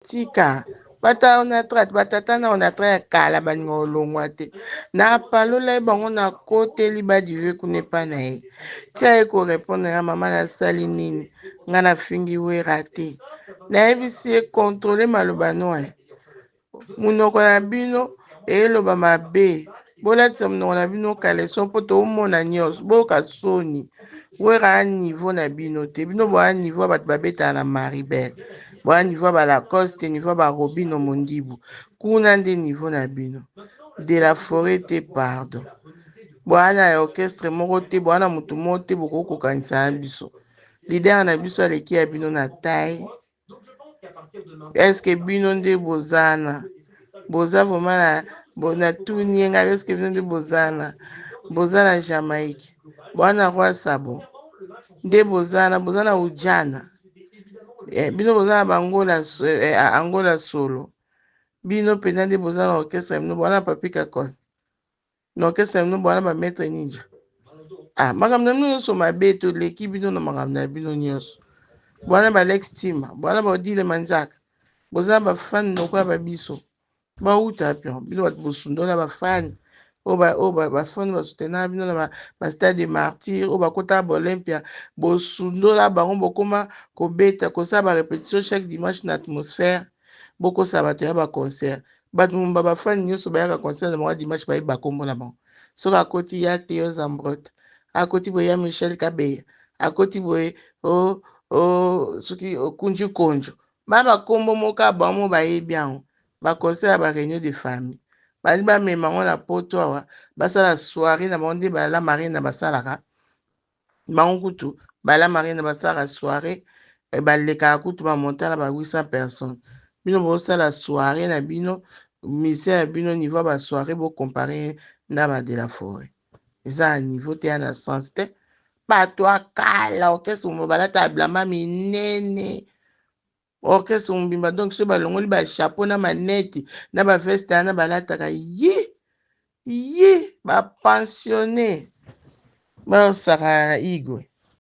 tika bata onatra batata na onatra ya kala baninga olongwa te napalola ye bango nakoteli badive kuna epa na ye tia ye korepondre na mama nasali nini ngai nafingi wera te nayebisi ye kontrole maloba noye monoko na bino eloba mabe Bolatisa monoko na bino caleçon mpo toomona nyonso. Boyoka soni. Wera a niveau na bino te. Bino boa niveau ya bato babetaka na Maribel. Boa niveau ya ba Lacoste, niveau ya ba Robino Mondibu. Kuna nde niveau na bino. De la forêt te pardon. Boa na orchestre moko te, boa na moto moko te bokoki kokanisa na biso. Leader na biso aleki ya bino na taille, eske bino nde bozana boza vraiment na bona tuni ye ngai eske bino nde bozana boza na jamaïque boza na roi sabo nde bozana boza na ujana eh, bino boza na bangola eh, angola solo bino mpenza nde boza na orchestre bino boza na papi kakol na orchestre na bino bwana ba maître ninja ah makambo na bino nyonso mabe toleki bino na makambo na bino nyonso bwana ba lex tima bwana ba odile manzaka boza na bafani lokola ba biso bauta pio bino bato bosundola bafani oyo bafani basutenaka bino na bastade de martyr oyo bakotaka baolympia bosundola bango bokoma kobeta kosala barepetition chaque dimanche na atmosphère bokosa bato ya baconcert Batu mumba ba fan nyoso bayaka concert na bango ya dimanche bayebi ba kombo na bango. Soki akoti ya Theo Zambrotte, akoti boye ya Michel Kabeya, akoti boye o o soki okunji konjo. Ba ba kombo moko ya bango moko bayebi yango. Ba concert ya ba reunion de famille. Balingi bamema yango na poto awa basala soiree na bango nde ba la marraine basalaka. bango kutu bala marina basala soirée eh, balekaka kutu bamonta na ba 800 personnes bino bosala soirée na bino musicien ya bino niveau ya basoirée bocompare na ba de la forêt eza ya niveau te ya na sens te bato ya kala orchestre mo balata ya blama minene Orchestre mobimba donc soki balongoli ba chapeau na maneti na ba veste wana balataka yi yi ba pensionne baosaka igwe.